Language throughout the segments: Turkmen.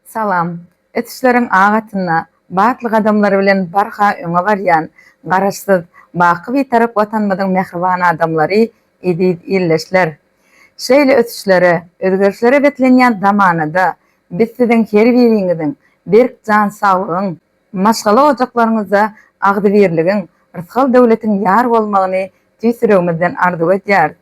Salam. Ösüşleriň ak atynda batly gadamlar bilen barha öňe barýan Garaşsyz, baky Bitarap Watanymyzyň mähriban adamlary, eziz ildeşler! Şeýle ösüşlere, özgerişlere beslenýän zamanada biz siziň her biriňiziň berk jan saglygyň, Maşgala ojaklaryňyzda agzybirligiň, rysgal-döwletiň ýar bolmagyny tüýs ýüregimizden arzuw edýäris.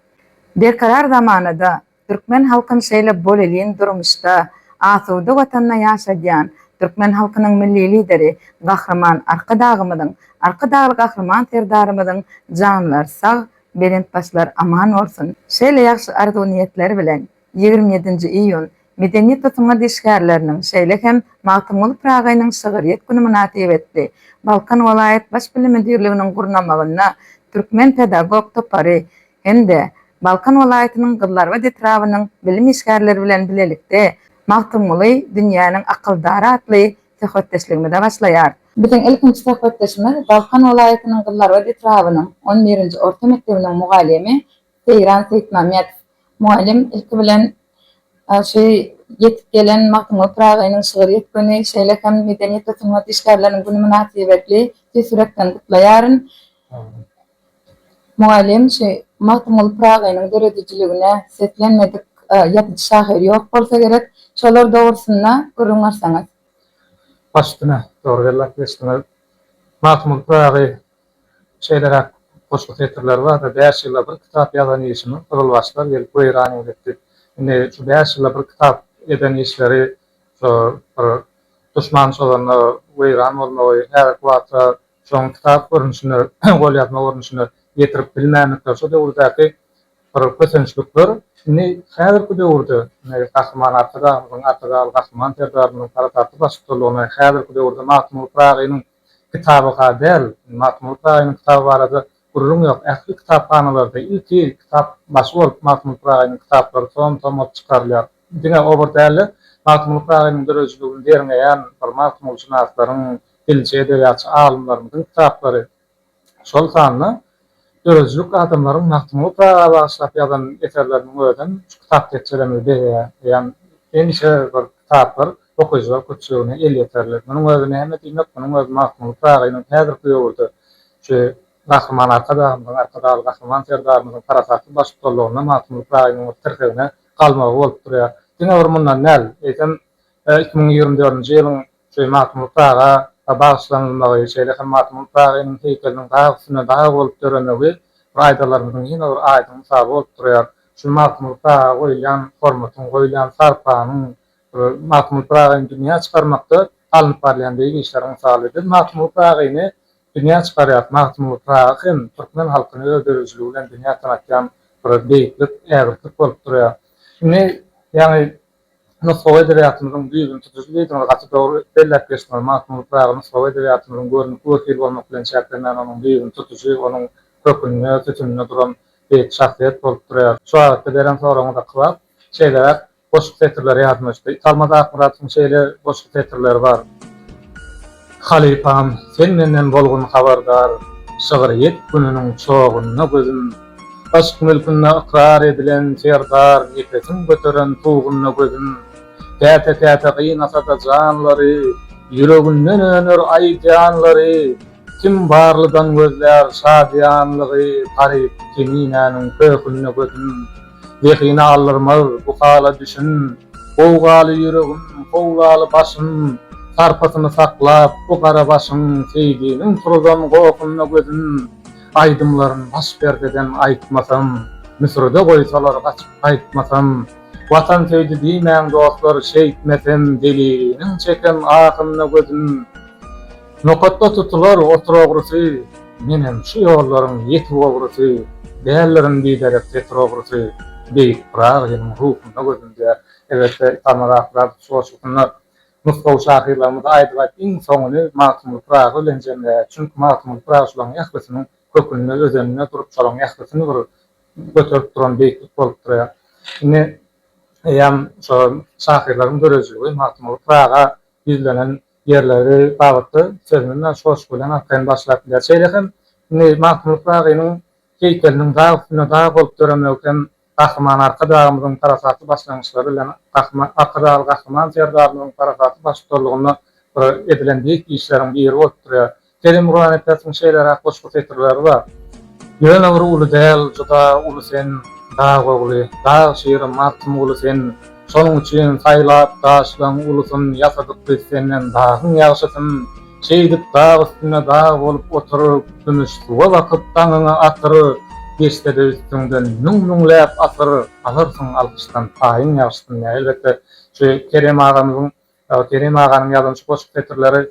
Berkarar zamanada, türkmen halkyn şeýle bolelin durmuşda, asuda Watanda ýaşadýan türkmen halkynyň Milli Lideri Gahryman Arkadagymyzyň, Arkadagly Gahryman Serdarymyzyň janlary sag, belent başlary aman bolsun! Şeýle ýagşy arzuw-niýetler bilen! Ýigrimi ýedinji iýun, Medeniýet we sungat işgärleriniň, şeýle hem Magtymguly Pyragynyň şygyrýet güni mynasybetli, Balkan welaýat Baş bilim müdirliginiň gurnamagynda Türkmen pedagog topary hem-de Balkan welaýatynyň Gyzlarbat etrabynyň bilim işgärleri bilen bilelikde Magtymguly, dünýäniň akyldary atly söhbetdeşligimize başlaýar. Biziň ilkinji söhbetdeşimiz Balkan welaýatynyň Gyzlarbat etrabynyň on birinji orta mekdebiniň mugallymy Seýran Seýitmämmedow mugallym ilki bilen şu ýetip gelen Magtymguly Pyragynyň şygyr ýetgini, şeýle hem Medeniýet we sungat işgärleriniň güni mynasybetli tüýs ýürekden gutlaýaryn. Mugallym şu Magtymguly Pyragynyň döredijiligine seslenmedik ýazyjy şahyr ýok bolsa gerek. Şolar dogrusynda gürrüň berseňiz. Baştuna, dogry belläp geçdiňiz. Magtymguly Pyragy Şeýleräk goşgy setirleri bar, Bäş ýylda bir kitap ýazan işimi gyzylbaşlar gelip weýran eýlipdi. Indi şu bäş ýylda bir kitap eden işleri şo bir duşman çozanda weýran bolmagy, häzirki wagta şoň kitap görnüşinde, golýazma görnüşinde ýetirip bilmändikleri şo döwürdäki bir kösençlikler indi häzirki döwürde Gahryman Arkadagymyzyň, Arkadagly Gahryman Serdarymyzyň parasatly baştutanlygynda häzirki döwürde Magtymguly Pyragynyň Kitabyka däl, Magtymguly Pyragynyň kitaby barada gürrüň ýok. Ähli kitaphanalarda ilki kitap başy bolup Magtymguly Pyragynyň kitaplary tom-tom bolup çykarylýar. Diňe obar däl-de, Magtymguly Pyragynyň döredijiligini derňeýän bir magtymgulşynaslaryň, dilçi, edebiýatçy alymlarymyzyň kitaplary şol sanda döredijilik adamlaryň Magtymguly Pyraga bagyşlap ýazan eserleriniň özem şu kitap tekjelemegi bezeýän hemişe bir kitaplar okyjylar köpçüligine elýeterli. Munuň özi näme diýmek, munuň özi Magtymguly Pyragynyň häzirki döwürde şu Gahryman Arkadagymyzyň, Arkadagly Gahryman Serdarymyzyň parasatly baştutanlygynda Magtymguly Pyragynyň bir tirsegine galmagy bolup durýar. Diňe bir mundan däl, eýsem, iki müň ýigrimi dördünji ýylyň Şeý Magtymguly Pyraga bagyşlanylmagy, şeýle hem Magtymguly Pyragynyň heýkeliniň dag üstüne dag bolup döremegi bu aýdalarymyzyň ýene bir aýdyň mysaly bolup durýar. Şu Magtymguly Pyraga goýulýan hormatyň, goýulýan sarpanyň, Magtymguly Pyragyny dünýä çykarmakda alnyp barylýan beýik işleriň mysaly. Biz Magtymguly Pyragyny dünýä çykarýarys. Magtymguly Pyragy hem türkmen halkyny öz döredijiligi bilen dünýä tanatýan bir beýiklik, ägirtlik bolup durýar. Indi, ýagny Nusgawy edebiýatymyzyň düýbüni tutuş diýdiňiz, gaty dogry belläp geçdiňiz. Magtymguly Pyragy nusgawy edebiýatymyzyň görnükli wekili bolmak bilen çäklenmän, onuň düýbüni tutuşy, onuň kökünde, sütüninde duran beýik şahsyýet bolup durýar. Şu babatda beren soragyňyza kybap, şeýleräk goşgy setirleri ýadyma düşdi. Italmaz Akmyradowyň şeýle goşgy setirleri bar. Halypam sen menden bolgun habardar Şygryýet gününiň çogunda gözüm Yşk mülkünde ykrar edilen serdar Nepesiň göteren tugunda gözüm Käte-käte gynasa-da janlary Ýüreginden öner aý janlary Kim barlydan gözlär şadyýanlygy Garyp Keminäniň köhünde gözüm. Zehin aldyrmaz bu hala düşün. Gowgaly ýüregim, howlaly başym, Sarpasyny saklap bu gara başyň, Seýdiniň turuzan gohunda gözüm, Aýdymlaryn baş perdeden aýtmasam, Müsürde goýsalar gaçyp gaýtmasam, Watan söýdi diýmäň dostlar şeýtmesem, Zeliliniň çeken ahynda gözüm. Nokatda tutular otur ogrusy Menem şu ýollaryň ýetik ogrusy Däldirin biderek getir ogrusy Beýik Pyragy seniň ruhuňda gördüm diýýär. Elbetde, Italmaz Akmyradow şu goşgusynda nusgawy şahyrlarymyzy aýdyp-aýdyp iň soňuny Magtymguly Pyragy bilen jemleýär. Çünki Magtymguly Pyragy şularyň ählisiniň kökünde, özeninde durup, şolaryň ählisini bir göterip duran beýiklik bolup durýar. Indi eýýäm şo şahyrlaryň dörejiligi Magtymguly Pyraga ýüzlenen ýerleri babatda sözüni Naş goşgy bilen arkaýyn başlap biler. Şeýle hem indi Magtymguly Pyragynyň heýkeliniň dag üstünde dag bolup döremegi hem Gahryman Arkadagymyzyň parasatly başlangyçlary bilen Gahryman Arkadagly Gahryman Serdarymyzyň parasatly baştutanlygynda edilen beýik işleriň biri bolup durýar. Kerim Guranipatyň şeýleräk goşgy setirleri bar, Ýöne bir uly däl, juda uly sen, dag ogly, dag şiri Magtym guly sen, Şonuň üçin saýlap daşlaň ulusyn ýasadyk biz senden dagyň ýagşysyn, Şeýdip dag üstünde dag bolup otur, kümüş suwa bakyp daňyňy atyr, Geçsede üstüňden müň-müňläp asyr, alarsyň alkyşdan paýyň ýagşysyn. Ýa elbetde şu Kerem agamyzyň Kerem aganyň ýazan şu goşgy setirleri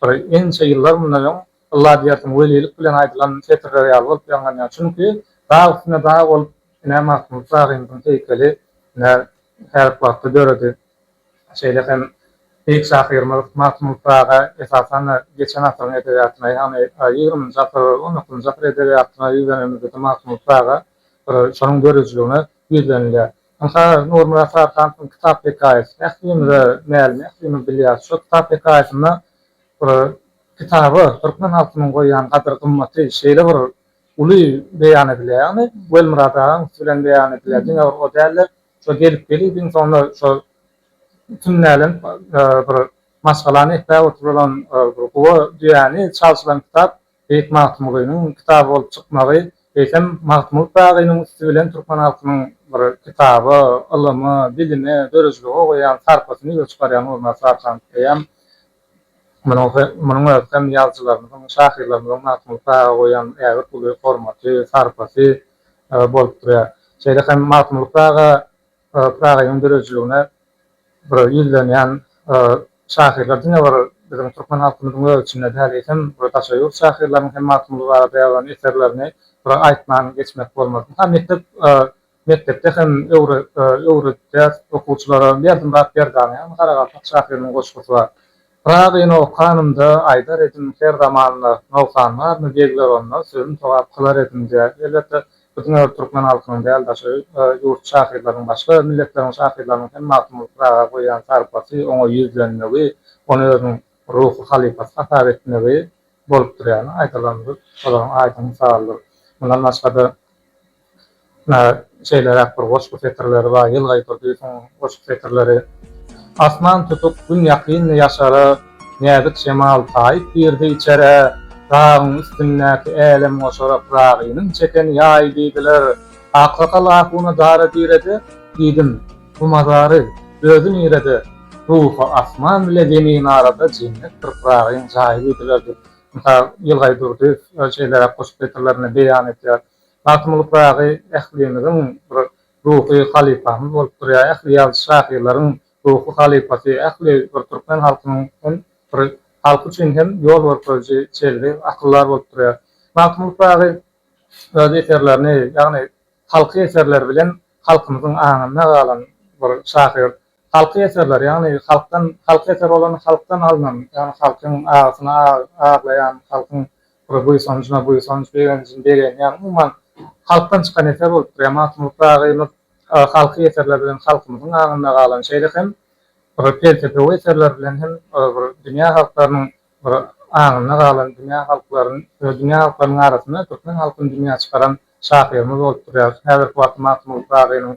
bir ençe ýyllar mundan öň, ylla diýersiň, welilik bilen aýdylan setirler ýaly bolup ýaňlanýar. Çünki dag üstünde dag bolup, ine, Magtymguly Pyragynyň heýkeli, ine, häzirki wagtda döredi. Şeýle hem beýik şahyrymyz Magtymguly Pyraga, esasan-da, geçen asyryň edebiýatyna, ýagny ýigriminji asyr, on dokuzynjy asyr edebiýatyna ýüzlenemizde-de Magtymguly Pyraga bir şonuň döredijiligine ýüzlenilýär. Ynha, Nurmyrat Sarkanowyň kitap hekaýasy. Ählimiz-ä mälim, ählimiz bilýäris. Şol kitap hekaýasynda bir kitaba türkmen halkynyň goýýan gadyr-gymmaty şeýle bir uly beýan edilýär. Ýagny, Welmyrat agaň üsti bilen beýan edilýär. Diňe bir o däl-de, şo gelip-gelip, iň soňunda şo kim nälenip bir maşgalany ekläp oturylan bir guba düýäni çalşylan kitap Beýik Magtymgulynyň kitaby bolup çykmagy, eýsem, Magtymguly Pyragynyň üsti bilen türkmen halkynyň bir kitaba, ylyma, bilime, döredijilige goýýan sarpasyny ýüze çykarýan bolmagy ysbatlanypdyrýar. Munuň özi hem ýazyjylarymyzyň, şahyrlarymyzyň Magtymguly Pyraga goýýan ägirt uly hormaty, sarpasy bolup durýar. Şeýle hem Magtymguly Pyraga Pyragynyň döredijiligine bir ýüzlenýän şahyrlar diňe bir biziň türkmen halkymyzyň öz içinde däl, eýsem, bir daşary ýurt şahyrlarynyň hem Magtymguly barada ýazan eserlerini bir aýtman geçmek bolmaz. Ynha, mekdep mekdepde hem öwredýäs okuwçylara. Berdimurat Berdiananyň hem Garagalpak şahyrynyň goşgusy bar. Pyragyny okanymda aýdar edim her zamanda nogsan barmy begler onda sözüm sogap kylar edim diýýär. Elbetde biziň öz türkmen halkynyň däl daşary ýurt şahyrlarynyň başga milletleriň şahyrlarynyň hem Magtymguly Pyraga goýýan sarpasy oňa ýüzlenmegi ony özüniň ruhy halypasy hasap etmegi bolupdyr ýaly aýdalandyr olaryň aýdyň mysaldyr. Mundan başgada Ýa şeýleräk bir goşgy setirleri bar, Ýylgyr Durdyýewiň goşgy setirleri, Asman tutuk, gün ýakyndy ýaşara, Näzik şemal taýyp girdi içerä, Dagyň üstündäki älemgoşara Pyragynyň çeken ýaýy diýdiler. Aksakal ahuna dara diredi, Diýdim, bu mazary, özi nirede? Ruhy asman bile zemin arada, Jennetdir Pyragyň jaýy diýdiler diýip, Ýylgyr Durdyýew şeýleräk goşgy setirlerinde beýan edýär. Magtymguly Pyragy ählimiziň bir ruhy halypamyz bolup durýar. Ähli ýazyjy-şahyrlaryň ruhy halypasy, ähli bir türkmen halkynyň hem bir halky üçin hem ýol görkeziji çelgi, akyldar bolup durýar. Magtymguly Pyragy öz eserlerini, ýagny halky eserleri bilen halkymyzyň aňynda galan bir şahyr. Halky eserleri, ýagny halkdan, halky eser bolanda halkdan alnan, ýagny halkyň agysyny aglaýan, halkyň Bu buýsanjyma buýsanç, begenjimi begenç, ýagny umuman halkdan çykan eser bolupdyr. Ýa Magtymguly Pyragynyň halky eserleri bilen halkymyzyň aňynda galan, şeýle hem bir pelsepewi eserler bilen hem bir dünýä halklarynyň bir aňynda galan, dünýä halklaryn, dünýä halklarynyň arasynda türkmen halkyny dünýä çykaran şahyrymyz bolup durýar. Häzirki wagtda Magtymguly Pyragynyň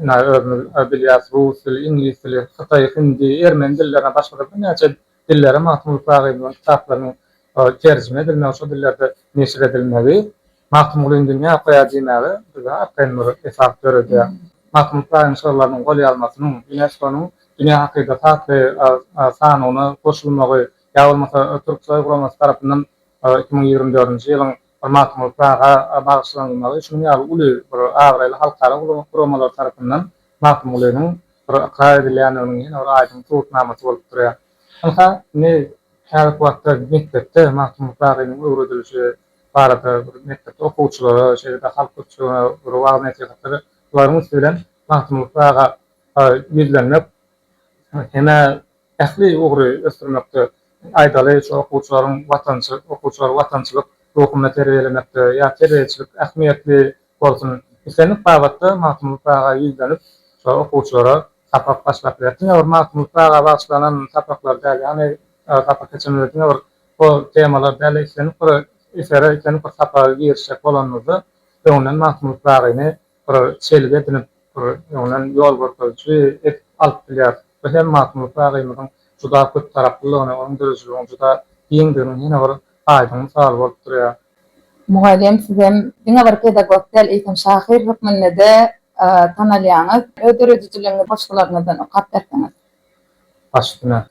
ina özümiz bilýäs rus dili, iňlis dili, hytaý, hindi, ermeni dillerine, başga-da birnäçe dillere Magtymguly Pyragynyň kitaplarynyň terjime edilmegi, şol dillerde neşir edilmegi, Magtymgulyny dünýä okaýar diýmäge bize arkaýyn bir esas döredýär. Magtymguly Pyragynyň şygrylarynyň golýazmasynyň Ýunesko-nyň Dünýä hakyda tatly sanawyna goşulmagy ýa bolmasa Türksoý guramasy tarapyndan iki müň ýigrimi dördünji ýylyň we Magtymguly Pyraga bagyşlanylmagy şunuň ýaly uly bir abraýly halkara guramalar tarapyndan Magtymgulynyň bir ykrar edilýändiginiň ýene bir aýdyň subutnamasy bolup durýar. Ynha, indi häzirki wagtda mekdepde Magtymguly Pyragynyň öwredilişi barada bir mekdepde okuwçylara, şeýle-de halk köpçüligine bir wagyz-nesihatlar, bularyň üsti bilen Magtymguly Pyraga ýüzlenmek hem-ä Ähli ugry ösdürmekde, aýdaly, şu okuwçylaryň watançy, okuwçylary watançylyk ruhunda terbiýelemekde ýa terbiýeçilik ähmiýetli bolsun. Islendik babatda Magtymguly Pyraga ýüzlenip, şo okuwçylara sapak başlap biler. Diňe bir Magtymguly Pyraga bagyşlanan sapaklar däl, ýagny sapak geçenimizde diňe bir şo temalar däl-de, islendik bir esere, islendik bir sapaga girişjek bolanymyzda, öňünden Magtymguly Pyragyny bir çelgi edinip, bir öňden ýol görkeziji edip alyp bilýär. Bu hem Magtymguly Pyragyymyzyň juda köp taraplylygyny, onuň dörejiligiň juda giňdiginiň ýene bir aýdyň mysaly bolup durýar. Mugallym, sizem diňe bir pedagog däl, eýsem şahyr hökmünde-de tanalýaňyz. Öz döredijiligiňizi goşgularyňyzdan okap berseňiz. Baş üstüne.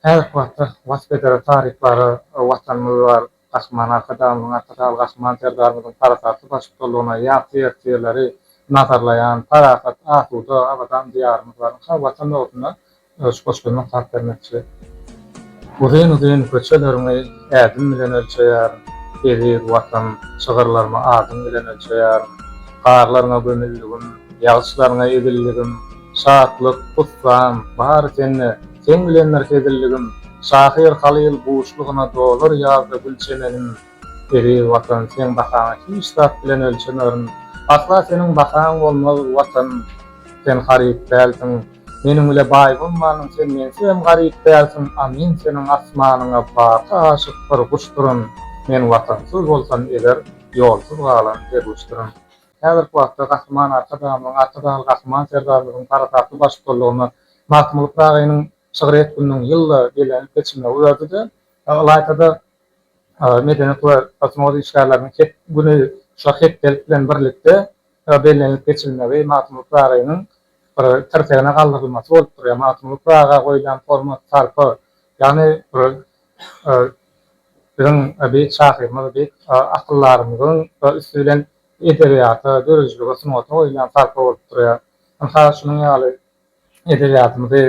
Häzirki wagtda wasp edere taryplara Watanymyz bar. Gahryman Arkadagymyzyň, Arkadagly Gahryman Serdarymyzyň parasatly baştutanlygynda ýagty ertirleri nazarlaýan, parahat, asuda, abadan Diýarymyz bar. Ynha, Watan ugrunda şu goşgymy okap bermekçi. Uzyn-uzyn köçeleriňi ädim bilen ölçeýärin, Eziz Watan, şygyrlarymy adyň bilen ölçeýärin. Garlaryňa gömüldigim, ýagyşlaryňa ezildigim, Şatlyk, hussan, bary sende. Seň bilendir hezilligim. Şahyr Halyl buşlugyna dolar ýazda gül çemenim. Eziz Watan, seň bahaňy hiç zat bilen ölçemerin. Asla seniň bahaň bolmaz, Watan! Sen haryt dälsiň. Meniň bile baý bolmanyň sen meňsem garyp dälsiň, a men seniň asmanyňa baky aşyk bir guşdyryn. Men watansyz bolsam eger, ýolsuz galan derwüşdirin. Häzirki wagtda Gahryman Arkadagymyzyň, Arkadagly Gahryman Serdarymyzyň parasatly baştutanlygynda Magtymguly Pyragynyň şygryýet gününiň ýylda bellenilip geçilmegi uýardy-da, ylaýta-da Medeniýet we basma goý işgärleriniň het güni şu hepdelik bilen birlikde bellenilip geçilmegi Magtymguly Pyragynyň bir tirsegine galdyrylmasy bolup durýar. Magtymguly Pyraga goýlan hormat, sarpa, ýagny bir biziň beýik şahyrymyz, beýik akyldarymyzyň üsti bilen edebiýata, döredijilige, sungata goýulýan sarpa bolup durýar. Ynha, şunuň ýaly Edebiýatymyzy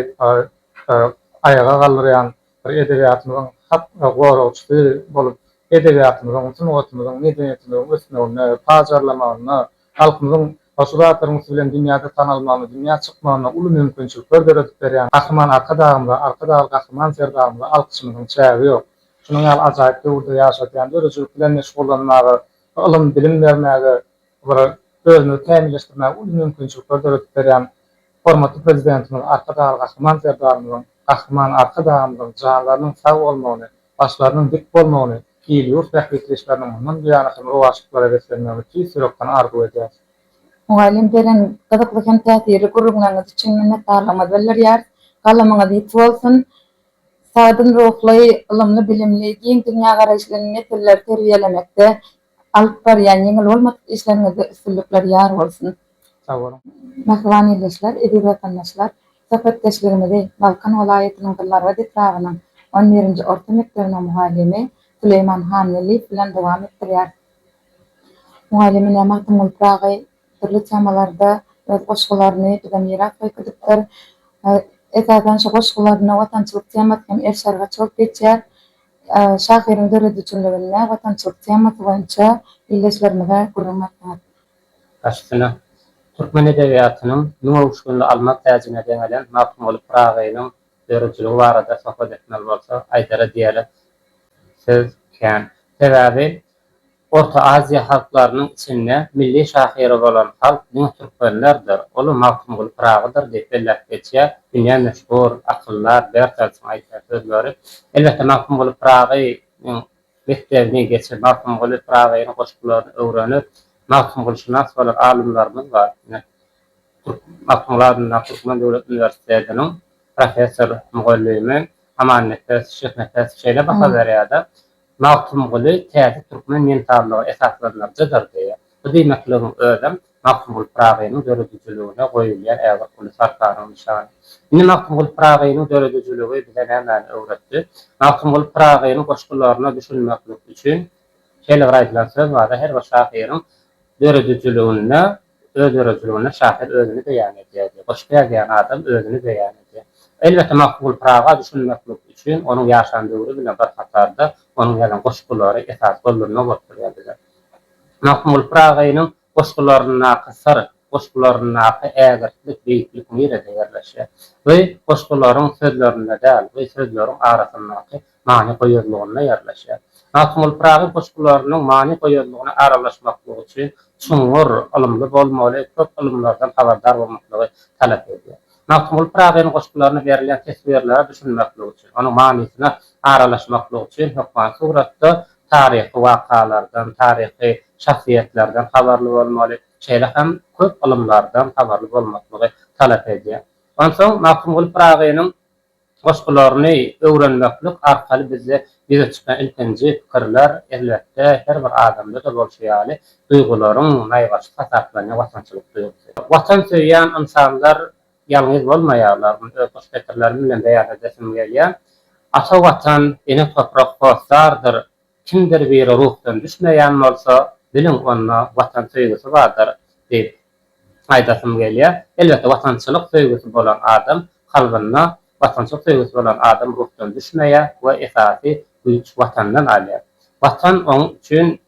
aýaga galdyrýan bir edebiýatymyzyň hak goragçysy bolup, edebiýatymyzyň, sungatymyzyň, medeniýetimiziň ösmeginde, pajarlamagynda, halkymyzyň goşgy zatlaryňysy bilen dünýäde tanalmagynda, dünýä çykmagynda uly mümkinçilikler döredip berýän Gahryman Arkadagymyza, Arkadagly Gahryman Serdarymyza alkyşymyzyň çägi ýok. Şunuň ýaly ajaýyp döwürde ýaşadýan döredijilik bilen meşgullanmaga, ylym, bilim bermäge, Olara özümizi kämilleşdirmäge uly mümkinçilikler döredip berýän hormatly Prezidentimiz Arkadagly Gahryman Serdarymyzyň, Gahryman Arkadagymyzyň janlarynyň sag bolmagyny, başlarynyň dik bolmagyny, il-ýurt bähbitdeşleriniň mundan buýana hem rowaçlyklara beslenmegini tüýs ýürekden arzuw edýäris. Mugallym beren gyzykly hem täsirli gürrüňleriňiz üçin minnetdarlygymyzy bildirýäris. Galamyňyz ýiti bolsun! Sagdyn ruhly, ylymly-bilimli, giň dünýägaraýyşly nesilleri terbiýelemekde Alyp barýan ýeňil bolmadyk işleriňizde üstünlikler ýar bolsun! Sag boluň! Mähriban ildeşler, eziz watandaşlar! Söhbetdeşligimizi Balkan welaýatynyň Dimargaz etrabynyň on birinji orta mekdebiniň mugallymy Süleýman Hanweliýew bilen dowam etdirýäris. Mugallymy näme atym bolup Pyragy dürli temalarda öz goşgularyny bize miras goýup-gidipdir. Esasan şu goşgularyna watançylyk temasy hem er-şerge çalt geçýär. Şahyryň döredijiliginde watançylyk temasy boýunça ildeşlerimize gürrüň etdiňiz. Başysyna, türkmen edebiýatynyň müň öwüşginli alma täjine deňelen Magtymguly Pyragynyň döredijiligi barada söhbet etmeli bolsa, aýdara diýere söz kän. Sebäbi Orta Aziýa halklarynyň içinde milli şahyry bolan halk diňe türkmenlerdir, ol-a Magtymguly Pyragydyr diýip belläp geçýär dünýä meşhur akyldar Bertelsiň aýtýan sözleri. Elbetde, Magtymguly Pyragynyň mekdebini geçip, Magtymguly Pyragynyň goşgularyny öwrenip, magtymgulyşynas bolan alymlarymyz bar. Ine, türk Magtymguly adyndaky Türkmen döwlet uniwersitetiniň professor-mugallymy Amannepes Şyhnepes şeýle baha berýär-de, Magtymguly täze türkmen mentallygy esaslandyran JDRD. Bu diýmekligiň özem Magtymguly Pyragynyň döredijiligine goýulýan ägirt uly sarpanyň nyşany. Indi Magtymguly Pyragynyň döredijiligi bize nämäni öwretdi? Magtymguly Pyragynyň goşgularyna düşünmeklik üçin, şeýle bir aýdylan söz bar-da, her bir şahyryň döredijiliginde Özdöredijiliginde şahyr özüni beýan edýärdi. Goşgy ýazýan adam özüni beýan edýär. Elbetde, Magtymguly Pyraga düşünmeklik üçin onuň ýaşan döwri bilen bir hatarda onuň ýazan goşgulary esasy gollanma bolup durýar bize. Magtymguly Pyragynyň goşgularyndaky syr, goşgularyndaky ägirtlik, beýiklik nirede ýerleşýär? Bu goşgularyň sözlerinde däl, bu sözleriň arasyndaky many goýazlygynda ýerleşýär. Magtymguly Pyragy goşgularynyň many goýazlygyna aralaşmaklygy üçin çuňňur ylymly bolmaly, köp ylymlardan habardar bolmaklygy talap edýär. Magtymguly Pyragynyň goşgularyna berilýän teswirlere düşünmeklik üçin, onuň manysyna aralaşmaklyk üçin hökman suratda taryhy wakalardan, taryhy şahsyýetlerden habarly bolmaly, şeýle hem köp ylymlardan habarly bolmaklygy talap edýär. Onsoň Magtymguly Pyragynyň Goşgularyny öwrenmeklik arkaly bizde ýüze çykan ilkinji pikirler, elbetde, her bir adamda-da bolşy ýaly, duýgularyň naýbaşysy hasaplanýan watançylyk duýgusy. Watan söýýän ynsanlar ýalňyz bolmaýarlar, muny öz goşgetirlerim bilen beýan edesim gelýär. Ata Watan, ene toprak hossardyr Kimdir biri ruhdan düşmeýän bolsa, biliň, onda Watan söýgüsi bardyr diýip aýdasym gelýär. Elbetde, watançylyk söýgüsi bolan adam kalbynda, watançylyk söýgüsi bolan adam ruhdan düşmeýär we esasy güýç Watandan alýar. Watan oň üçin,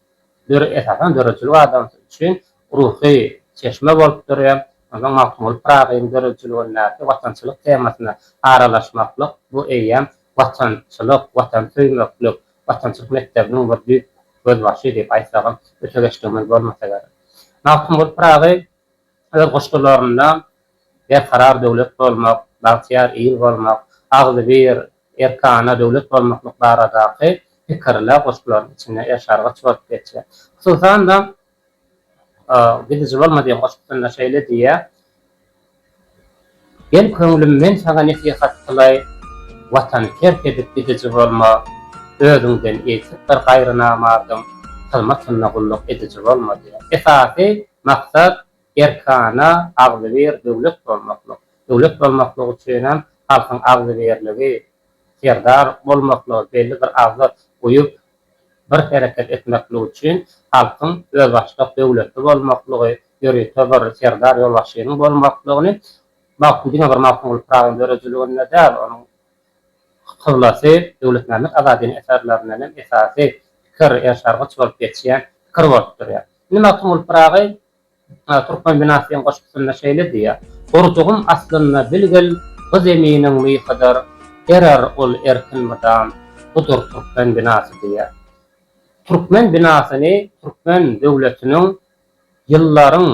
esasan, döredijilik adamsy üçin ruhy çeşme bolup durýar. Onsoň Magtymguly Pyragynyň döredijiligindäki watançylyk temasyna aralaşmaklyk, bu eýýäm watançylyk, watan söýmeklik, Watançylyk mekdebiniň bir düýp gözbaşy diýip aýtsagam öte geçdigimiz bolmasa gerek. Magtymguly Pyragy öz goşgularynda Berkarar döwlet bolmak, bagtyýar il bolmak, Agzybir, Erkana döwlet bolmaklyk baradaky pikirler goşgularynyň içinde ersargyç bolup geçýär. Hususan-da. Gidiji bolma diýen goşgusynda şeýle diýýär, Gel köňlüm men saňa nesihat kylaý, Watany terk edip gidiji bolma, Özüňden eýsik bir gaýry namardyň Hyzmatynda gulluk ediji bolma diýýär. Esasy maksat erkana, agzybir döwlet bolmaklyk. Döwlet bolmaklyk üçinem halkyň agzybirligi, serdar bolmaklygy, belli bir agza uýup, bir hereket etmeklik üçin halkyň özbaşdak döwletli bolmaklygy, ýörite bir serdar ýolbaşçynyň bolmaklygyny Magtym diňe bir Magtymguly Pyragynyň döredijiliginde däl, onuň kyblasy Döwletmämmet Azadynyň eserlerinden hem esasy pikir, erşargyç bolup geçýän pikir bolup durýar. Indi Magtymguly Pyragy Türkmen Binasiýaň goşgusynda şeýle diýýär, Gurjugym aslynda bilgil bu zeminiň myhydyr, Erer ol erkin mydam, budur türkmen binasy diýýär. Türkmen binasyny türkmen döwletiniň ýyllaryň,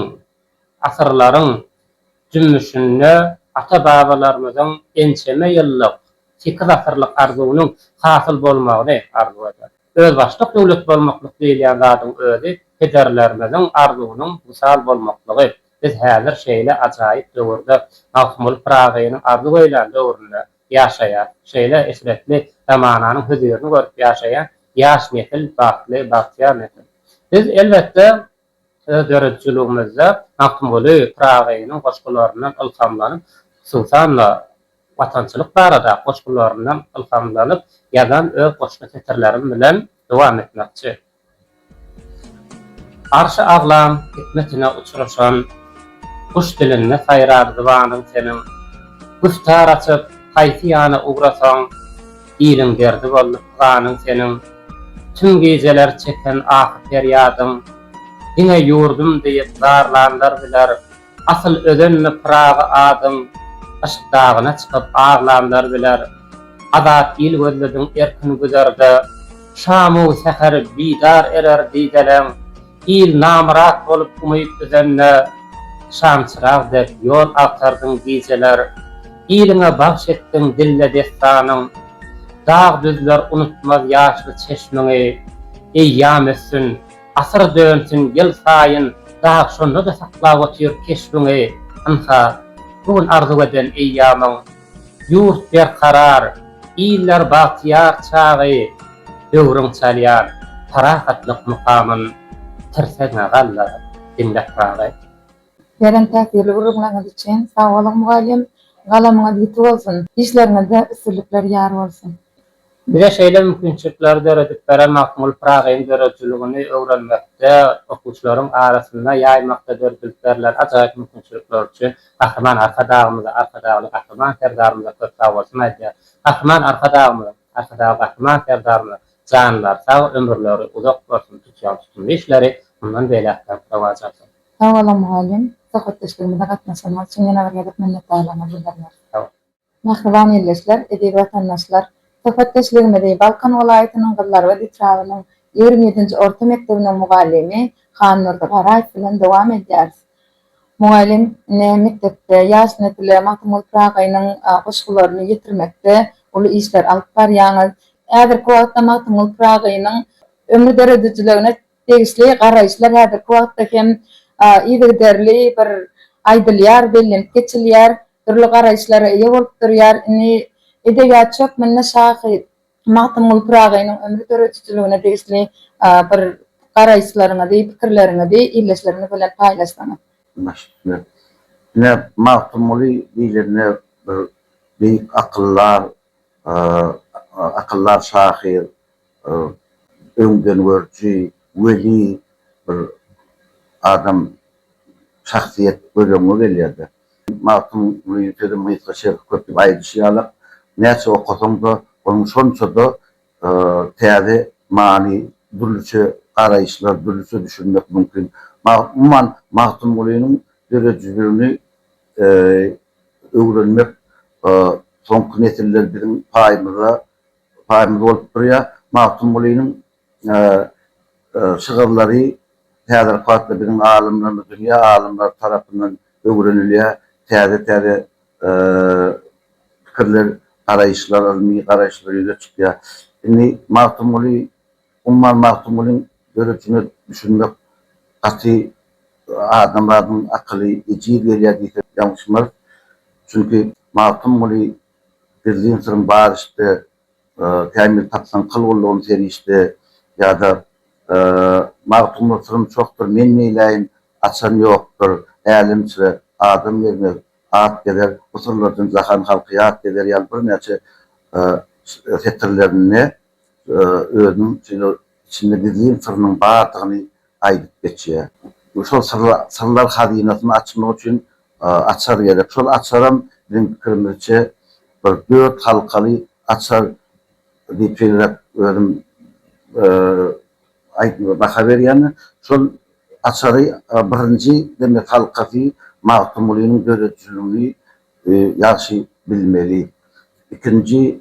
asyrlaryň jümmüşinde ata-babalarymyzyň ençeme ýyllyk, sekiz asyrlyk arzuwynyň hasyl bolmagyny arzuw eder. Özbaşdak döwlet bolmaklyk diýilýän zadyň özi pederlerimiziň arzuwynyň wysal bolmaklygy. Biz häzir şeýle ajaýyp döwürde, Magtymguly Pyragynyň arzuw eýlän döwründe ýaşaýas. Şeýle eşretli zamananyň hözirini görüp ýaşaýan ýaş nesil bagtly, bagtyýar nesil. Biz, elbetde, Öz döredijiligimizde Magtymguly Pyragynyň goşgularyndan ylhamlanyp, hususan-da, watançylyk barada goşgularyndan ylhamlanyp ýazan öz goşgy setirlerim bilen dowam etmekçi. Arşy aglam hikmetine uçruşan guş dilinde saýrar zybanyň seniň. Güftar açyp, haýsy ýana ugrasaň. Iliň derdi boldy pyganym seniň, Tüm gijeler çeken ahy-perýadyň. Diňe ýurdum diýip zarlanlar biler, Asyl özenmi Pyragy adyň. Yşk dagyna çykyp aglanlar biler, Azat il gözlediň erkin güzerde. Şamu säher bidar erer dideleň, Il namyrat bolup umyt üzende, Şamçyrag dek ýol agtardyň gijeler. Iliňe bagş etdiň dille dessanyň, Dag-düzler unutmaz ýaşly çeşmiňi. Eýýam ötsün, asyr dönsün ýylsaýyn Dag şonda-da saklap otyr keşbiňi. Ynha, bu gün arzuw eden eýýamyň, Ýurt berkarar, iller bagtyýar çagy Döwrüň çalýar parahatlyk mukamyn Tirsegiňe galdyr diňle Pyragy. Beren täsirli gürrüňleriňiz üçin sag boluň mugallym, galamyňyz ýiti bolsun, işleriňizde üstünlikler ýar bolsun! Bize şeýle mümkinçilikleri döredip beren Magtymguly Pyragynyň döredijiligini öwrenmekde, okuwçylaryň arasynda ýaýmakda döredilip berlen ajaýyp mümkinçilikler üçin Gahryman Arkadagymyza, Arkadagly Gahryman Serdarymyza köp sagbolsun aýdýar. Gahryman Arkadagymyzyň, Arkadagly Gahryman Serdarymyzyň janlary sag, ömürleri uzak bolsun, tutýan tutumly işleri mundan beýläk hem rowaç alsyn! Sag boluň mugallym, söhbetdeşligimize gatnaşanyňyz üçin ýene bir gezek minnetdarlygymy bildirýän. Sag bol. Mähriban ildeşler, eziz watandaşlar! Söhbetdeşligimizi Balkan welaýatynyň Gyzlarbat etrabynyň ýigrimi ýedinji orta mekdebiniň mugallymy Hannurdy Garaýew bilen dowam edýäris. Mugallym ine mekdepde ýaş nesle Magtymguly Pyragynyň goşgularyny ýetirmekde uly işler alyp barýaňyz. Häzirki wagtda Magtymguly Pyragynyň ömri döredijiligine Degişli garaýyşlar häzirki wagtda hem yzygiderli bir aýdylýar, bellenip geçilýär, dürli garaýyşlara eýe bolup durýar. Indi edebiýatçy hökmünde şahyr Magtymguly Pyragynyň ömri döredijiligine degişli bir garaýyşlaryňyzy, pikirleriňizi ildeşlerimiz bilen paýlaşsaňyz. Başga kimler? Ine, Magtymguly diýlende bir beýik akyldar, akyldar şahyr, öňdengörüji, weli bir adam, şahsyýet göz öňüňe gelýär-de. Magtymgulynyň sözüm gysga, şerhi köp diýip aýdyşy ýaly, näçe okasaň-da, onuň şonça-da täze many, dürlüçe garaýyşlar, dürlüçe düşünmek mümkin. Umuman, Magtymgulynyň döredijiligini öwrenmek soňky nesiller biziň paýymyza Paýymyz bolup durýar. Magtymgulynyň şygyrlary häzirki wagtda biziň alymlarymyz, dünýä alymlary tarapyndan öwrenilýär. Täze-täze pikirler, garaýyşlar, ylmy garaýyşlar ýüze çykýar. Indi Magtymguly, umuman Magtymgulyň döredijine düşünmek gaty adamzadyň akyly ejiz gelýär diýsek ýalňyşmarys. Çünki Magtymguly Berdigiň syryň bar işte, Kämil tapsaň kyl gullugyn serişde, ýa-da Magtymguly syrym çokdur, men neýläýin, açan ýokdur, älemçre adam gezmez, at gezer, bu syrlardan jahan halky ýat gezer ýaly birnäçe setirlerinde özüniň şeýle içinde gizlin syrynyň bardygyny aýdyp geçýär. Şol syrlar hazynasyny açmak üçin açar gerek. Şol açaram biziň pikirimizçe bir dört halkaly açar diýip şeýleräk özüm baha berýän. Şol açary birinji demek halkasy Magtymgulynyň döredijiligini ýagşy bilmeli. Ikinji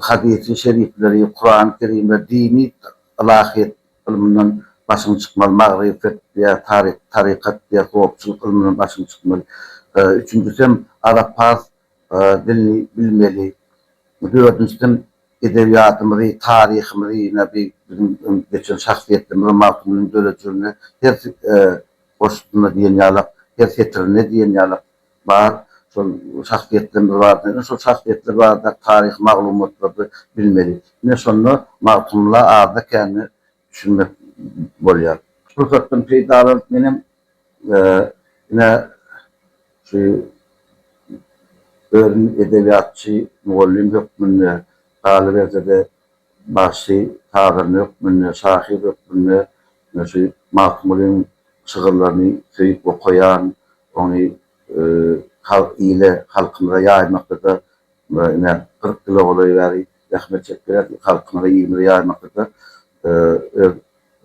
Hadysy şerifleri, Kurany Kerim we dini ylahyýet ylmyndan başyň çykmaly, magryfet diýä, tarykat diýä, sopçylyk ylmyndan başyň çykmaly. Üçünjisem arap-pars dilini bilmeli. Dördünjisem edebiýatymyzy, taryhymyzy ýene bir biziň öň geçen şahsyýetlerimizi Magtymgulynyň dörejilini her goşgusynda diýen ýalak, her setirinde diýen ýalak bar, şol şahsyýetlerimiz barada, ine şol şahsyýetler barada taryhy maglumatlary bilmeli. Ine şonda Magtymgula azda-kände düşünmek bolýar. Şu pursatdan peýdalanyp menem ine şu özüm edebiýatçy, mugallym hökmünde, galyberse-de, Bagşy sazanda hökmünde, şahyr hökmünde men şu Magtymgulyň şygyrlaryny söýüp okaýan, ony halk ile, halkymyza ýaýmakda-da ine kyrk ýyla golaý bäri zähmet çekýän, halkymyza, ilimize ýaýmakda-da öz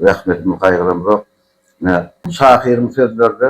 zähmetimizi gaýgyramzok. Ine, şahyryň sözlerde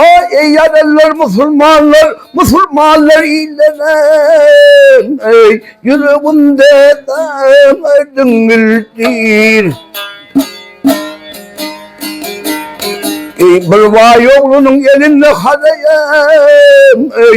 Oý eý ýaranlar musulmanlar musulmanlar illenem eý ýüregimde daň diňildir Eý bir baý oglunyň elinde hazaýam eý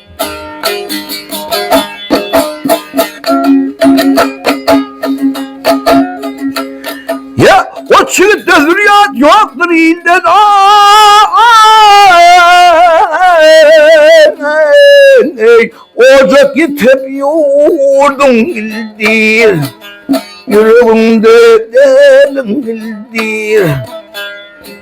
Çilik dözülýät ýokdur ilden Ey ocak ýitip ýurduň ildir Ýüregiňde däliň ildir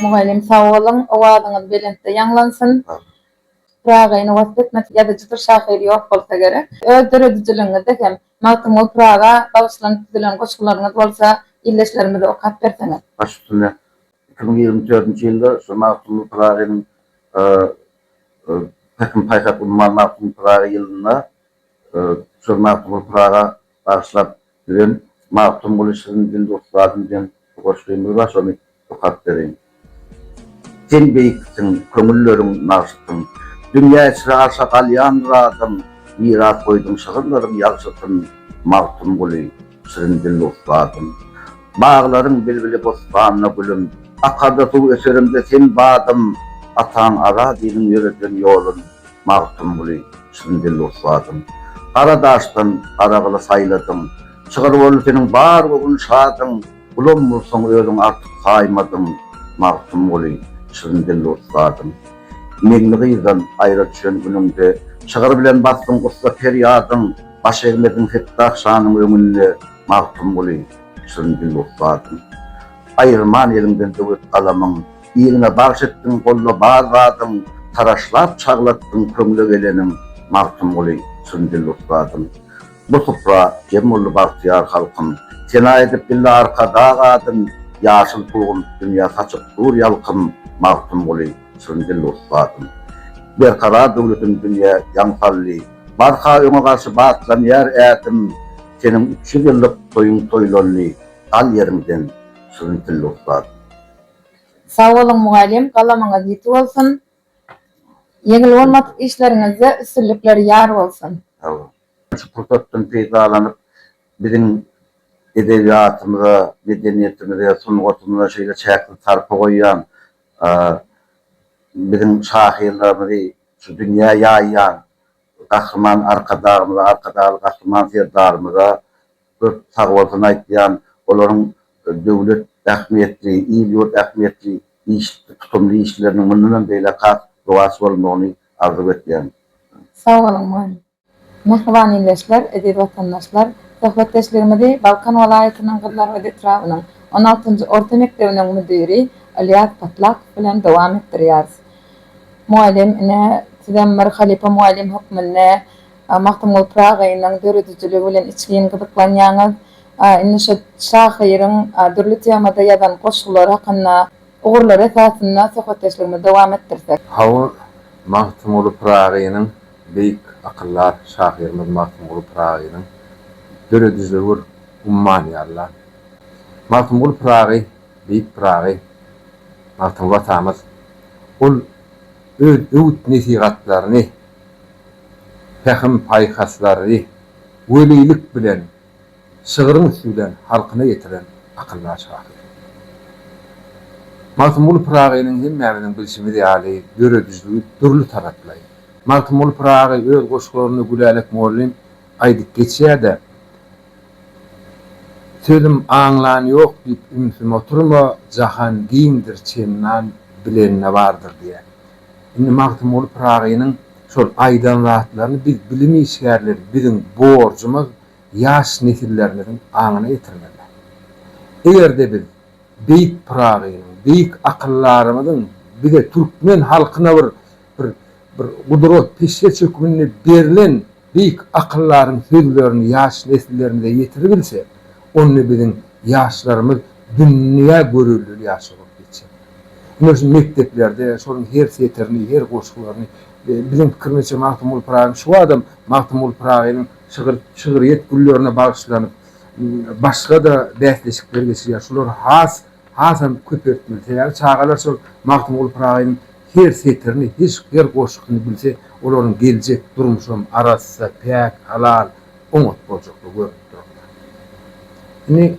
Mugallym sag boluň, owazyňyz belentde ýaňlansyn. Pyragyny wasp etmesi ýazyjy bir şahyr ýok bolsa gerek. Öz döredijiligiňizde hem Magtymguly Pyraga bagyşlanyp düzülen goşgularyňyz bolsa ildeşlerimize okap berseňiz. Baş üstünde. Iki müň ýigrimi dördünji ýylda şu Magtymguly Pyragynyň Pähim-paýhas umman Magtymguly Pyragy ýylynda şol Magtymguly Pyraga bagyşlap düzen Magtymguly şirin dilli ussadym diýen bir goşgymyz bar, şony okap bereýin. Sen beýiksiň, köňülleriň nagşysyň, Dünýä içre-aşa galýandyr adyň, Miras goýduň şygyrlaryň ýagşysyn, Magtymguly! Şirin dilli ussatym. Baglaryň bilbili bossanda gülüm. Akarda suw öserimde sen badym. Ataň Azadiliň ýöreden ýolun, Magtymguly, şirin dilli ussatym. Gara daşdan gara gyly saýladyň. Çygyr boldy seniň bar göwün şadyň. Gulam bolsaň özüň artyk saýmadyň, Magtymguly, şirin dilli ussatym. Meňli gyzdan aýra düşen günüňde. Çygyr bilen basdyň gussa perýadyň. Baş egmedim Fetdah şanyň öňünde Magtymguly çyn dil bolup bardym. Aýyrman eliňden döwlet galamyň, Iliňe bagş etdiň golda bar zadyň, Taraşlap çaglatdyň köňle geleniň, Magtymguly çyn dil bolup bardym. Bu supra jem boldy bagtyýar halkym, Sena edip bildi Arkadag adyn, Ýaşyl pulgun dünýä saçyp dur ýalkym, Magtymguly Çyrndyl dost batym. Berkarar döwletim dünýä ýaň saldy. Barha öňe garşy batlanýar ätim. Seniň üç ýüz ýyllyk toýuň toýlandy. Gal ýeriňden, Çyrndyl dost batym. Sag boluň mugallym galamyňyz ýiti bolsun ýeňil bolmadyk işleriňizde üstünlikler ýar bolsun. Sagbol. Şu pursatdan peýdalanyp biziň edebiýatymyza, medeniýetimize, sungatymyza şeýle çäksiz sarpa goýýan Biziň şahyrlarymyzy şu dünýä ýaýýan Gahryman Arkadagymyza, Arkadagly Gahryman Serdarymyza köp sagbolsun aýdýan, olaryň döwlet ähmiýetli, il-ýurt ähmiýetli iş, tutumly işleriniň mundanam beýläk has rowaç bolmagyny arzuw etýän. Sag boluň, mugallim! Mähriban ildeşler, eziz watandaşlar! Söhbetdeşligimizi Balkan welaýatynyň Gyzlarbat etrabynyň on altynjy orta mekdebiniň müdiri Ylýas Patlakow bilen dowam etdirýäris. Mugallym, ine, sizem bir halypa mugallym hökmünde Magtymguly Pyragy agaýynyň döredijiligi bilen içgin gyzyklanýaňyz. Indi şu şahyryň dürli temada ýazan goşgulary hakynda ugurlar esasynda söhbetdeşligimizi dowam etdirsek. Hawa, Magtymguly Pyragynyň Beýik akyldar şahyrymyz Magtymguly Pyragynyň döredijilegur ummany ýaly-la. Magtymguly Pyragy, Beýik Pyragy, Magtymguly atamyz, ol öz öwüt-nesihatlaryny, pähim-paýhaslary welilik bilen, şygryň üsti bilen halkyna ýetiren akyldar şahyr. Magtymguly Pyragynyň hemmämiziň bilşimiz ýaly döredijiligi dürli taraplaý. Magtymguly Pyragy öz goşgularynda Gülälek mugallym aýdyp geçýär-de, Sözüm aňlan ýok diýip ümsüm oturma, jahan giňdir çenlan bilenine bardyr diýýär. Indi Magtymguly Pyragynyň şol aýdan zatlaryny biz bilim işgärleri biziň borjumyz ýaş nesillerimiziň aňyna getirmeli. Eger-de biz beýik Pyragynyň, beýik akyldarymyzyň bize türkmen halkyna bir bir bir gudrat peşgeç hökmünde berlen Beýik akyldaryň sözlerini ýaş nesillerimize ýetiribilse, onda biziň ýaşlarymyz dünýä görelde ýaş bolup geçer. Ine, şu mekdeplerde şonuň her setirini, her goşgularyny, biziň pikirimizçe, Magtymguly Pyragyň şu badam Magtymguly Pyragynyň şygyr, şygryýet güllerine bagyşlanyp, başga-da bäsleşikler geçirýär. Şular has hasam köpeltmeli, sebäbi çagalar şol Magtymguly Pyragynyň her setirini, hiş her goşgyny bilse, olaryň geljek durmuşam arassa, päk, halal, oňat boljakdygy görnüp durupdyr. Indi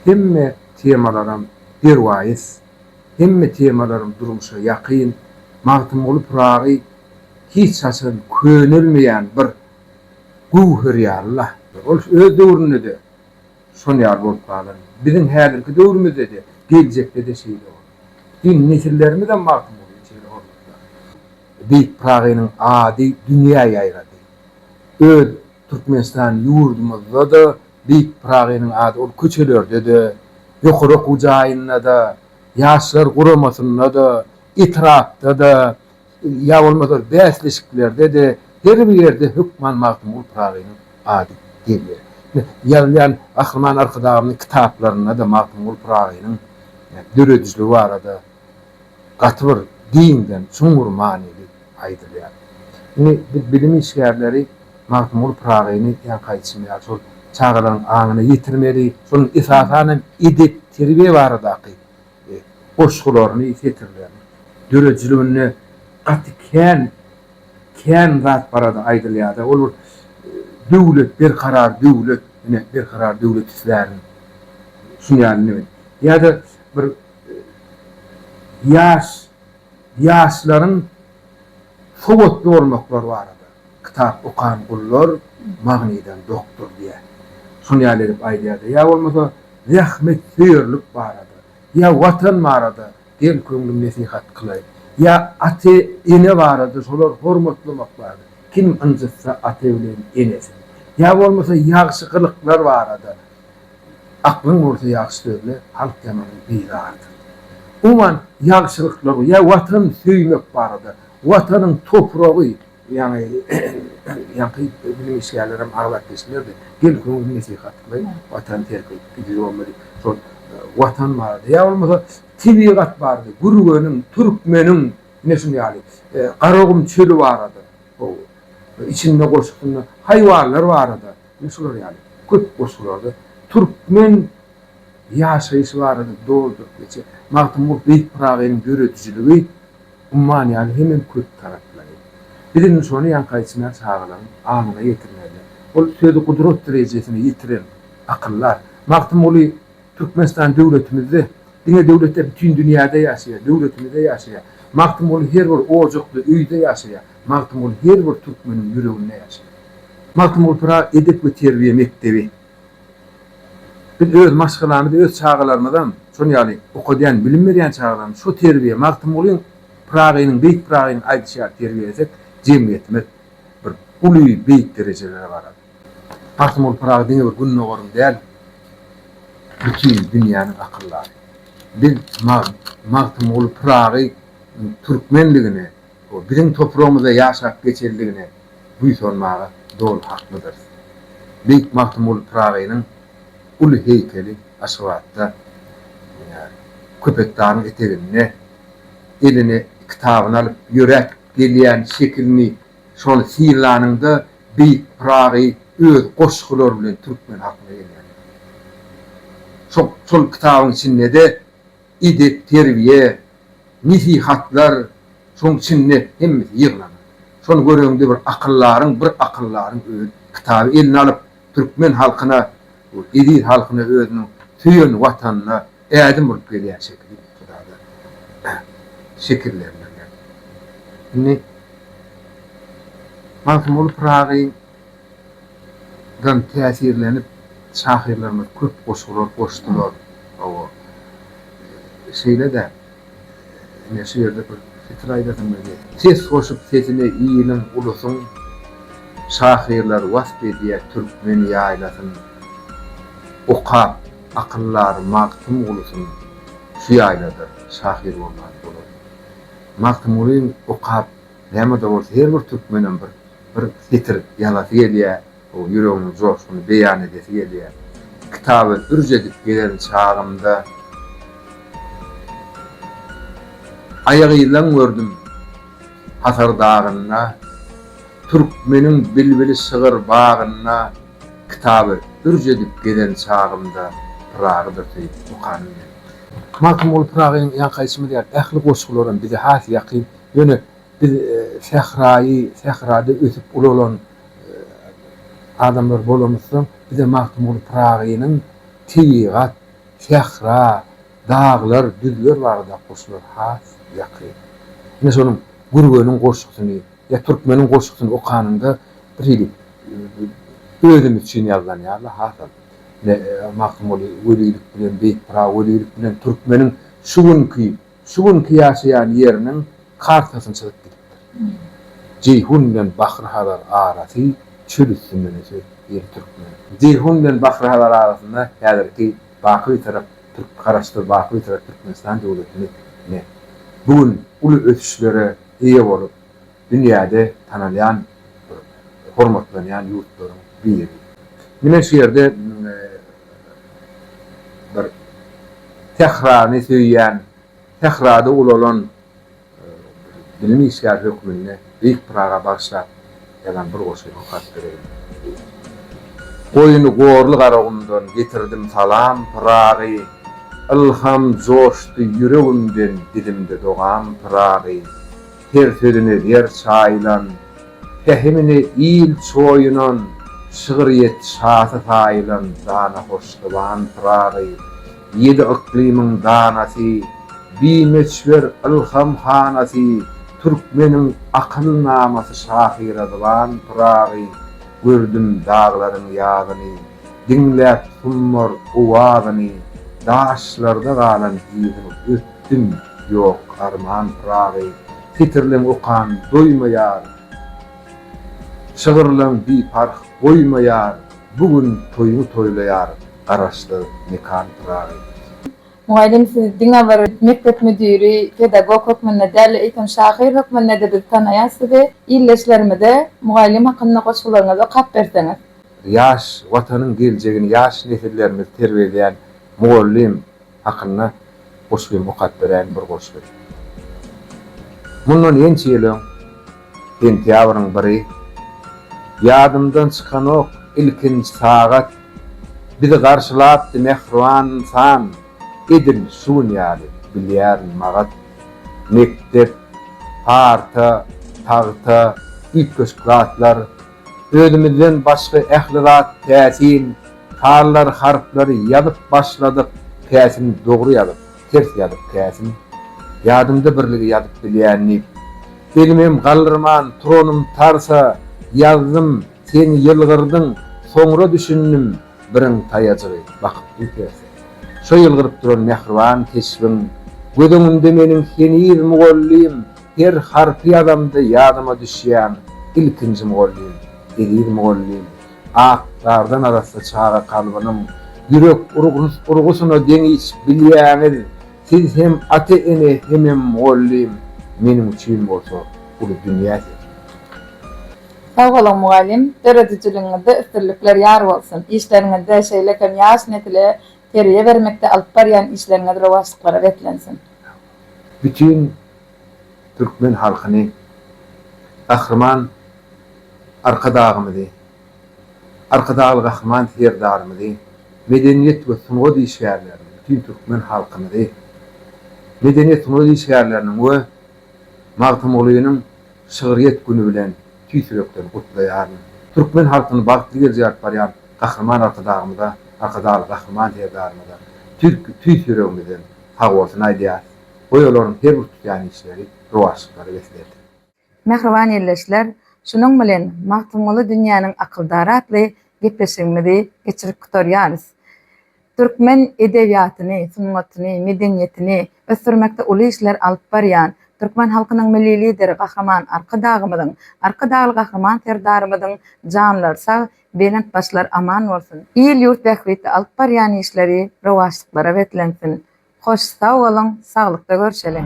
hemme temalaram derwaýys, hemme temalaram durmuşa ýakyn, Magtymguly Pyragy hiç haçan könelmeýän bir göwher ýaly-la. Ol öz döwründe-de Şol ýaly bolup galan. Biziň häzirki döwrümizde-de, geljekde-de şeýle bolar. Diýen nesillerimizem Magtymgulyny şeýle hormatlar. Beýik Pyragynyň ady dünýä ýaýrady. Öz Türkmenistan ýurdumyzda-da Beýik Pyragynyň ady ol köçelerde-de, ýokary okuw jaýynda-da, Ýaşlar guramasynda-da, etrapda-da, Ýa bolmasa bäsleşiklerde-de her bir ýerde hökman Magtymguly Pyragynyň ady gelýär. Ine, ýazylýan Gahryman Arkadagymyzyň kitaplarynda-da Magtymguly Pyragynyň döredijiligi barada gaty bir giňden, çuňňur manyly aýdylýar. Indi biz bilim işgärleri Magtymguly Pyragyny ýa gaýçymy ýa şol çagalaryň aňyna ýetirmeli, şonuň esasan hem edep-terbiýe baradaky goşgularyny, setirlerini. Döredijiliginde gaty kän, kän zat barada aýdylýar-da. Ol bir döwlet, berkarar döwlet, ine, berkarar döwlet islärin. Şunuň ýaly neme. Ýa-da bir ýaş, ýaşlaryň sowatly bolmaklary barada. Kitap okan gullar magnydan dokdur diýýär. Şol ýaly edip aýdýar-da, ýa bolmasa zähmetsöýerlik barada, ýa Watan barada gel köňlüm nesihat kylaý, ýa ata, ene barada şolar hormatlamak barada, kim ynjytsa ata bilen enesin, ýa bolmasa ýagşy gylyklar barada aklyň bolsa ýagşy sözle, halk ýamanyň bizarydyr. Umuman ýagşylyklar, ýa Watan söýmek barada, Watanyň topragy, Ýaňy ýaňky bilim işgärlerem aglap geçdiler-de, gel köňül nesihatly Watany terk edip gideli bolmadyk. Şol Watan barada, ýa bolmasa tebigat barada, Gürgeniň, Türkmeniň, ine şuny ýaly, Garagum çöli barada, howw, içinde goşgusynda haýwanlar barada, ine şular ýaly köp goşgularda türkmen ýaşaýşy barada dolduryp geçýär. Magtymguly Beýik Pyragynyň döredijiligi Umman ýaly hemem köp taraplaýyn. Biz indi şony ýaňkaýçymyz çagalaryň aňyna ýetirmeli. Ol sözi gudrat derejesine ýetiren akyllar. Magtymguly Türkmenistan döwletimizde, diňe döwletde bütin dünýäde ýaşaýar, döwletimizde ýaşaýar. Magtymguly her bir ojakda, öýde ýaşaýar. Magtymguly her bir türkmeniň ýüreginde ýaşaýar. Magtymguly Pyragy edep we terbiýe mekdebi. Biz öz maşgalamyzy, öz çagalarymyzam, şonuň ýaly okadýan, bilim berýän çagalarymyzy şo terbiýe, Magtymgulyň Pyragynyň, beýik Pyragynyň aýdyşy ýaly terbiýelesek, jemgyýetimiz bir uly, beýik derejelere barar. Magtymguly Pyragy diňe bir Gündogaryň däl, bütin dünýäniň akyldary. Biz Magtymguly Pyragynyň türkmendigine, Biziň topragymyzda ýaşap geçelidigine buýsanmaga doly haklydyrys. Beýik Magtymguly Pyragynyň uly heýkeli Aşgabatda, Köpetdagyň eteginde eline kitabyny alyp ýöräp gelýän şekilini şony synlanyňda beýik Pyragy öz goşgulary bilen türkmen halkyna ýeňýär. Şol kitabyň içinde-de edep-terbiýe, nesihatlar, şoň içinde hemmesi ýygnanan. Şony göreňde bir akyldaryň, bir akyldaryň öz kitaby eline alyp, türkmen halkyna, bu eziz halkyna özüniň söýen Watanyna ädim urup gelýän şekili Hudadan şekillendirmek. Indi Magtymguly Pyragyň. Ýaşlykdan täsirlenip şahyrlarymyz köp goşgular goşdular. Hawa, şeýle-de ine şu ýerde bir setir aýdasym gelýär. Ses goşup sesine iliň, ulusyň Şahyrlar wasp edýär türkmen ýaýlasyn. Okap, akyllary Magtymgulusyn Şu ýaýlada şahyr bolman bolarmy? Magtymgulyň okap, näme-de bolsa her bir türkmenem bir bir setir ýazasy gelýär, o ýüregiň joşguny beýan edesi gelýär. Kitaby ürç edip gezen çagymda aýagyzlan gördüm Hasar dagynda, Türkmeniň bilbili şygyr bagynda Kitaby ürç edip gezen çagymda Pyragydyr söýüp okanym gelipdir. Magtymguly Pyragy ýaňky aýdyşymyz ýaly ähli goşgularam bize has ýakyn, ýöne Biz sähraýy, sährada ösüp ulalan adamlar bolamyzsoň, bize Magtymguly Pyragynyň tebigat, sähra, daglar, düzler barada goşgulary has ýakyn. Ine şonuň Gürgeniň goşgusyny ýa Türkmeniň goşgusyny okanyňda bir hili özümiz üçin ýazylan ýaly hasam Magtymguly welilik bilen, Beýik Pyragy welilik bilen Türkmeniň şu günki Şu günki ýaşaýan ýeriniň kartasyny çyzyp gidipdir. Jeýhun bilen Bahry-Hazar arasy çöl üstünden öse ýeri türkmen. Jeýhun bilen Bahry-Hazar arasynda häzirki Baky Bitarap Türk Garaşsyz Baky Bitarap Türkmenistan döwletini ne. Bu gün uly ösüşlere eýe bolup, dünýäde tanalýan bir hormatlanýan ýurtlaryň biri. Mine şu ýerde bir sährany söýýän, sährada ulalan bilim işgäri hökmünde Beýik Pyraga bagyşlap ýazan bir goşgyny okap bereýin. Goýny gorly Garagumdan getirdim salam, Pyragy, Ylham joşdy ýüregimden, dilimde dogam, Pyragy, Her sözüni zer çaýylan, pähimini il çoýunan, şygryýet şasy saýylan dana hoşzuban Pyragy, ýedi yklymyň danasy, bimöçber ylham hanasy, türkmeniň akylnamasy şahyra zyban Pyragy, gördüm daglaryň ýazyny, diňläp summar owazyny, daşlarda galan iziň öt. Tim, Ýok, Arman Pyragy setirleň okan doýmaýar, Şygyrlaň biparh goýmaýar, Bu gün toýuňy toýlaýar, Garaşsyz mekan Pyragy. Mugallym sizi diňe bir mekdep müdiri, pedagog hökmünde däl-de, eýsem şahyr hökmünde-de biz tanaýas sizi. Ildeşlerimize mugallym hakynda goşgularyňyzy okap berseňiz. Ýaş Watanyň geljegini ýaş nesillerimizi terbiýeleýän mugallym. hakynda goşgym okap berän bir goşgy. Mundan ençe ýyl öň sentýabryň biri ýadymdan çykanok ilkinji sagat bizi garşylapdy mähriban ynsan edil şu gün ýaly bilýärin magat mekdep parta tagta üýtgeşik zatlar Özümizden başga ähli zat päsin Tarlar harplary ýazyp başladyk päsin Dogry ýazyp ters ýazyp päsin Ýadymda birligi ýazyp bilýän diýip Elimem galdyrman turanym tarsa Ýazdym sen ýylgyrdyň soňra düşündim Biriň taýajygy bakyp dur terse Şo ýylgyryp duran mähriban keşbiň Göz öňümde meniň heniz mugallym Her harpy ýazamda ýadyma düşýäň ilkinji mugallym, eziz mugallym, ak gardan arassa çaga kalbynyň ýürek urgusyna deňiç bilýäňiz, siz hem ata-ene hemem mugallym, meniň üçin bolsa uly dünýä siz. Sag boluň mugallym, döredijiligiňizde üstünlikler ýar bolsun, işleriňizde, şeýle hem ýaş nesile terbiýe bermekde alyp barýan işleriňiz rowaçlyklara beslensin. bütin türkmen halkyny, Gahryman Arkadagymyzy, Arkadagly Gahryman Serdarymyzy, medeniýet we sungat işgärlerini, bütin türkmen halkymyzy, medeniýet, sungat işgärleriniň we Magtymgulynyň şygryýet güni bilen tüýs ýürekden gutlaýaryn. Türkmen halkyny bagtly geljege alyp barýan Gahryman Arkadagymyza, Arkadagly Gahryman Serdarymyza tüýs ýüregimizden sagbolsun aýdýarys. Goý olaryň her bir tutýan işleri rowaçlyklary beslersiň. Mähriban ildeşler, şunuň bilen Magtymguly dünýäniň akyldary atly gepleşigimizi geçirip gutarýarys. Türkmen edebiýatyny, sungatyny, medeniýetini ösdürmekde uly işler alyp barýan, türkmen halkynyň Milli Lideri Gahryman Arkadagymyzyň, Arkadagly Gahryman Serdarymyzyň janlary sag, Belent başlar aman bolsun. Il ýurt bähbitli alyp barýan işleri rowaçlyklara beslensin. Hoş sag boluň saglykda görşeliň.